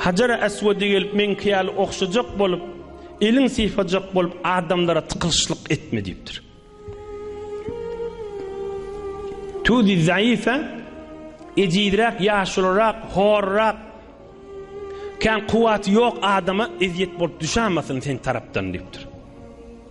Hajara Eswede gelip meňki ýaly ogşajak bolup, eliň sypajak bolup adamlara tykylyşlyk etme diýipdir. Tudi zaýyfa ejizräk, ýaşulyrak, horrak, kän kuwwaty ýok adama ezýet bolup düşämesin sen tarapdan diýipdir.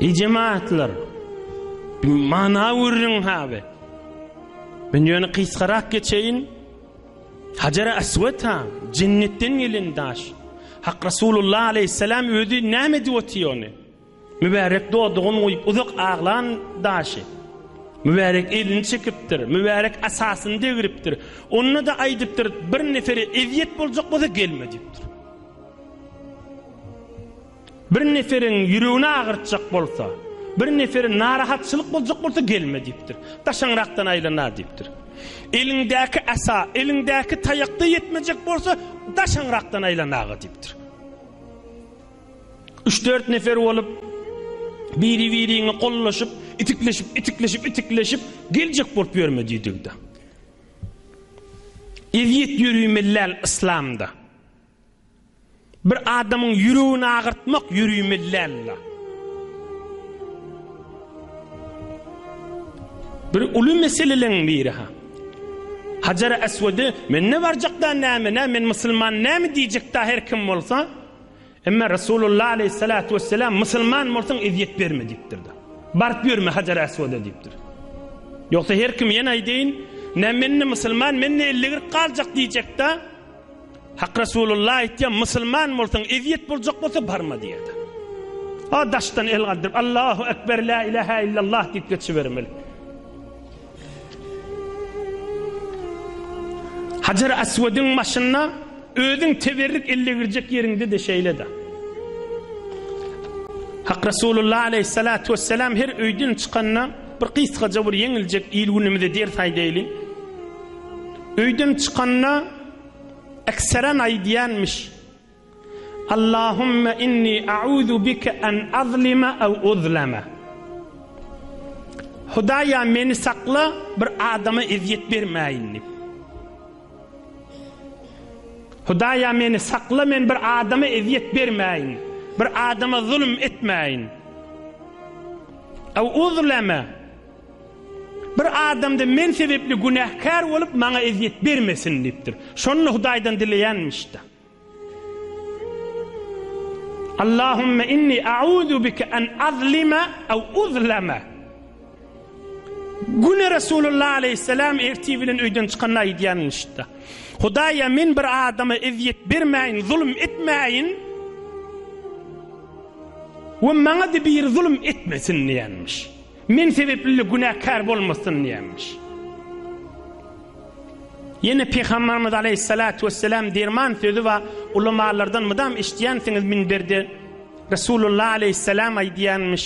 Eý jemaatlar, bir mana gürrüň haby. Men ýöne gysgarak geçeýin. Hajar-a Aswad-a jennetden gelen daş. Hak Resulullah aleyhisselam özi näme edip otyr ony? Mübärek dodagyny guýup uzak aglan daşy. Mübärek elini çekipdir, mübärek asasyny degripdir. Onda-da aýdypdyr, bir nefere ezýet boljak bolsa gelme diýipdir. Bir neferiň ýüregini agyrtjak bolsa, bir neferin narahatçylyk boljak bolsa gelme diýipdir. Daşaňrakdan aýlana diýipdir. Eliňdäki asa, eliňdäki taýakda ýetmejek bolsa, daşaňrakdan aýlanaga diýipdir. Üç-dört nefer bolup, biri-biriňe gollaşyp, itikleşip, itikleşip, itikleşip, geljek bolup ýörme diýdigde. Ezýet ýörimelläl yslamda. Bir adamyň ýüregini agyrtmak ýüri mellänla. Bir uly meseleleň biri ha. Hajar Aswady men ne barjak da näme nä men musulman näme diýjek da her kim bolsa. Emma Resulullah aleyhissalatu vesselam musulman bolsaň ezýet berme diýipdir da. Baryp ýörme Hajar Aswada diýipdir. Ýogsa her kim ýene aýdyň nä men ne musulman men ne 50 40 galjak diýjek da. Hak Resulullah aýtýar, Musulman bolsaň, ezýet boljak bolsa barma diýýär. A daşdan el galdyryp, Allahu ekber, la ilaha illallah diýip geçibermeli. Hajar Aswediň başynda özüň teberrik elle girjek ýeriňde de şeýle-de. Hak Resulullah aleyhissalatu vesselam her öýden çykanda bir gysgaja bir ýeňiljek il günümizde ders aýdaýlyň. Öýden çykanda ekseren aýdýanmyş. Allahumma inni a'uzu bika an azlima aw uzlama. Hudaýa meni sakla bir adama ezýet bermäýin diýip. Hudaýa meni sakla men bir adama ezýet bermäýin. Bir adama zulum etmäýin. Aw uzlama. Bir adam-da men sebäpli günäkär bolup, maňa ezýet bermesin diýipdir. Şonda Hudaýdan dileýänmiş-de. Allahumma inni a'uzu bika an azlima aw uzlama. Güne Resulullah aleyhisselam erti bilen öýden çykanda aýdýanlyşda. Hudaýa men bir adama ezýet bermäýin, zulum etmäýin. We maňa-da biri zulum etmesin diýenmiş. Men sebepli-le günäkär bolmasyn diýýärmiş. Ýene Pygamberimiz aleýhissalatu wesselam derman sözi bar, ulamalardan mydam eşidýänsiňiz minberde Resulullah aleýhissalam aýdýarmyş,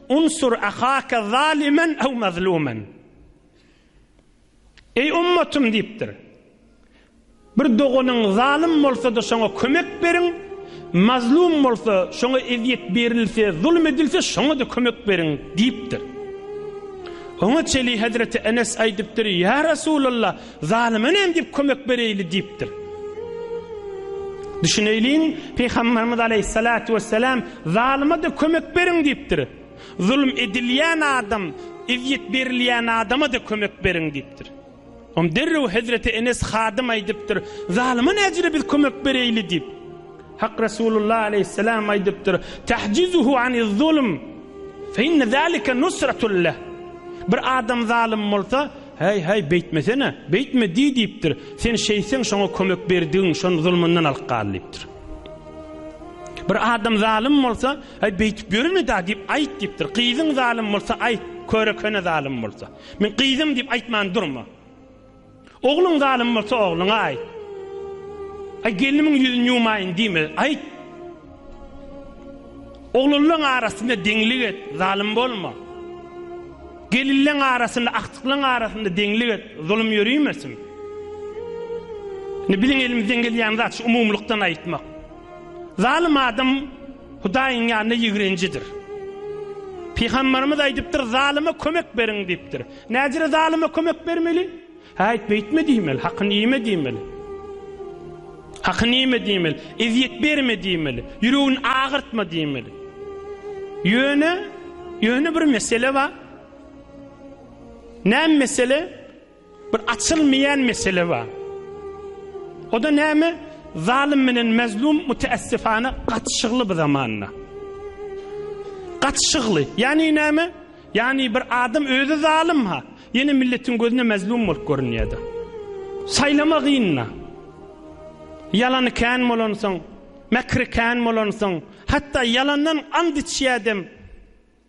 Unsur ahaka zalimen ew mazlumen. Eý ummatym diýipdir. Bir doganyň zalym bolsa-da şoňa kömek beriň, mazlum bolsa, şoňa ezýet berilse, zulum edilse şoňa-da kömek beriň diýipdir. Oňa çeli Hezreti Enes aýdypdyr, Ýa Resulallah, zalyma näme diýip kömek bereýli diýipdir. Düşüneýliň, Pygamberimiz Aleýhissalatu wesselam, Zalyma-da kömek beriň diýipdir. Zulum edilýän adam ezýet berilýän adama-da kömek beriň diýipdir. Onda derrew hezreti Enes hadym aýdypdyr, Zalyma näcüre biz kömek bereýli diýip. Hak Resulullah aleýhisselam aýdypdyr, Tahjizuhu aniz-zulm, fe inne zalike nusratun leh. Bir adam zalym bolsa, Häý, häý, beýtmesene, beýtme diý diýipdir. Sen şeýtseň şoňa kömek berdigiň, şony zulmundan alyp gal diýipdir. Bir adam zalym bolsa, Aý, beýtip ýörme-dä diýip, aýt diýipdir. Gyzyň zalym bolsa, aýt, köre köne zalym bolsa. Men gyzym diýip aýtman durma. Ogluň zalym bolsa, ogluňa aýt. Aý, gelnimiň ýüzüni ýumaýyn diýme, aýt. Oglanlaň arasynda deňlik et, zalym bolma. Gelinleň arasynda, agtyklaň arasynda deňlik et, zulum ýörimesin. Indi biziň elimizden gelýän zat şu umumylykdan aýtmak. Zalym adam Hudaýyň ýanynda ýigrenjidir. Pygamberimiz aýdypdyr, zalyma kömek beriň diýipdir. Nädire zalyma kömek bermeli? Häýt beýtme diýmeli, hakyny ýeme diýmeli. Hakyny ýeme diýmeli, ezýet berme diýmeli, ýüregini agyrtma diýmeli. Ýöne, ýöne bir mesele bar. Näme mesele? Bir açylmaýan mesele bar. O-da näme? Zalym bilen mazlum müteessifana gatyşygly bu zamanda. Gatyşygly. Ýagny näme? Ýagny bir adam özi zalym ha, ýene milletiň gözünde mazlum bolup görünýär-de. Saýlama gyn-da. Ýalany kän bolansoň, mäkri kän bolansoň, hatda ýalandan and içýädem.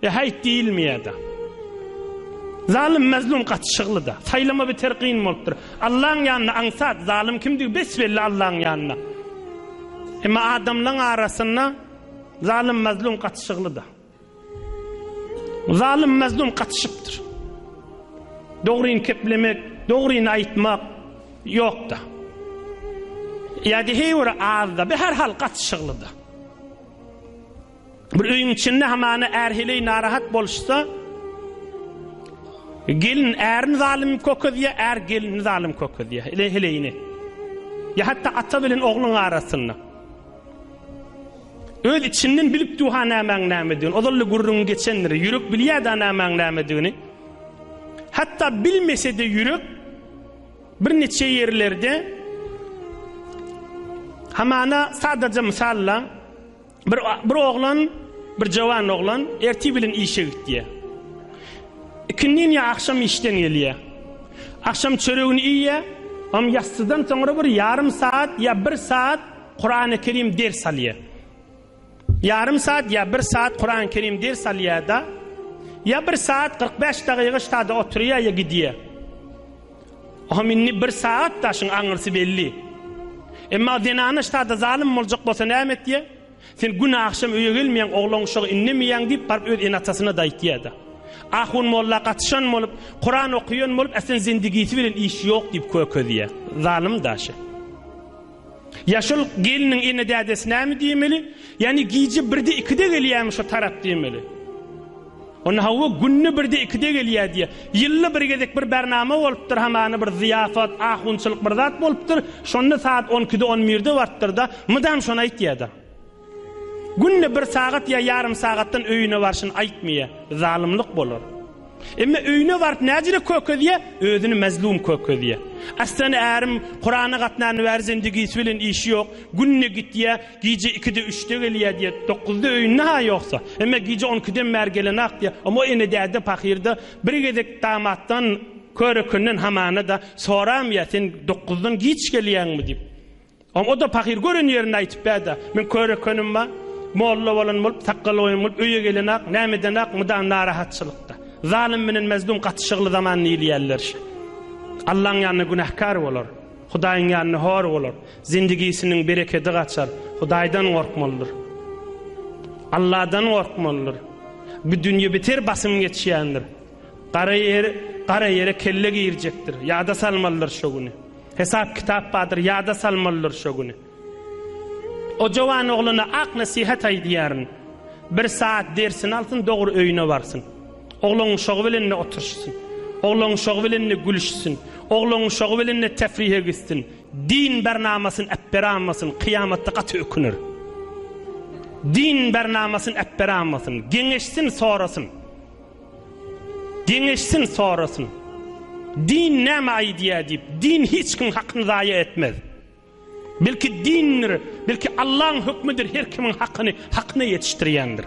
E haýt diýilmeýär-de. Zalym mazlum gaty şygly-da. Saýlama beter gyn bolupdyr. Allaň ýanynda aňsat, zalym kimdigi bes-belli Allaň ýanynda. Emma adamlaň arasynda zalym mazlum gaty şygly-da. Zalym mazlum gatyşypdyr. Dogryny keplemek, dogryny aýtmak ýok-da. Ýa-da heýwere az-da, be her hal gaty şygly-da. Bir öýüň içinde hamana är heleý narahat boluşsa, gelin ärini zalym kökezýär, är gelini zalym kökezýär, ele heleýini. Ya hatta ata bilen ogluň arasynda. Öz içinden bilip duha nämäň nämedigini, ozally gürrüň geçendir, ýürek bilýär-de nämäň nämedigini. Hatta bilmese-de ýürek bir neçe ýerlerde hamana sadaja mysalla Bir bir oglan, bir jawan oglan ertir bilen işe gitýär. Ikindin ýa akşam işden gelýär. Akşam çöregini iýýär, am ýassydan soňra bir ýarym saat ýa bir saat Kur'an-ı Kerim ders alýar. Ýarym saat ýa bir saat Kur'an-ı Kerim ders alýar da, ýa bir saat 45 dagyga ştada oturýar ýa gidýär. Ohm indi bir sagat daşyň aňyrsy belli. Emma zenana ştada zalym boljak bolsa näme etýä? Sen gün agşam öýe gelmeýäň, oglan uşagy indemeýäň diýip baryp öz ene-atasyna-da aýtýa-da. Ahun molla gatyşan bolup, Kuran okaýan bolup, äslen zendigisi bilen işi ýok diýip kökezýä. Zalym daşy. Ýaşul gelniň ene-dädesi näme diýmeli? Ýagny gije birde-ikide gelýärmi şo tarap diýmeli. Onda hawa, günde birde-ikide gelýär diýýär. Ýylda bir gezek bir bernama bolupdyr, hamana bir zyýafat, ahunçylyk bir zat bolupdyr. Şonda saat on ikide-on birde bartdyr-da, mydam şony aýtýar-da. Günde bir sagat ýa ýarym sagatdan öýüne barşyny aýtmaýa, zalymlyk bolar. Emma öýüne baryp näjire kökezýä, özüni mazlum kökezýä. Aslan ärim Kurana gatnany bäri zendigisi bilen işi ýok, günde gitýä, gije ikide üçde gelýä diýä, dokuzda öýünde ha ýoksa. Emma gije on ikiden bäri gelenok diýä, oňa o ene däde pahyrda bir gezek damatdan, körekenden hamana-da soramýa, sen dokuzdan giç gelýäňmi diýip. Oňa-da pahyr gören ýerini aýtyp bäda. Men köre könim-a, molla bolan bolup, sakgal goýan bolup öýe gelen-ak, näme eden-ak, mydam narahatçylykda. Zalym bilen Mezlum gaty şygly zaman diýilýärler şe. Allaň ýanynda günähkär bolar. Hudaýyň ýanynda hor bolar. Zindigisiniň berekedi gaçar. Hudaýdan gorkmalydyr. Alladan gorkmalydyr. Bu dünýe beter basym geçýändir. Gara ýer, gara ýere kelle girjekdir, ýada salmalydyr şo güni. Hesap-kitap bardyr, ýada salmalydyr şo güni. O jowan oglana ak nesihat aýdýaryn. Bir saat dersini alsyn, dogry öýüne barsyn. Ogluň uşagy bilen-de oturyşsyn. Ogluň uşagy bilen-de gülüşsin. Ogluň uşagy bilen-de tefrihe gitsin. Din bernamasyny äpberanmasyn, kyýamatda gaty öküner. Din bernamasyny äpberanmasyn. Geňeşsin, sorasyn. Geňeşsin sorasyn. Din näme aýdýa diýip, din hiç kim hakyny zaýa etmez. Belki dindir, belki Allaň hökmüdir her kimiň hakyny hakyna ýetişdirýändir.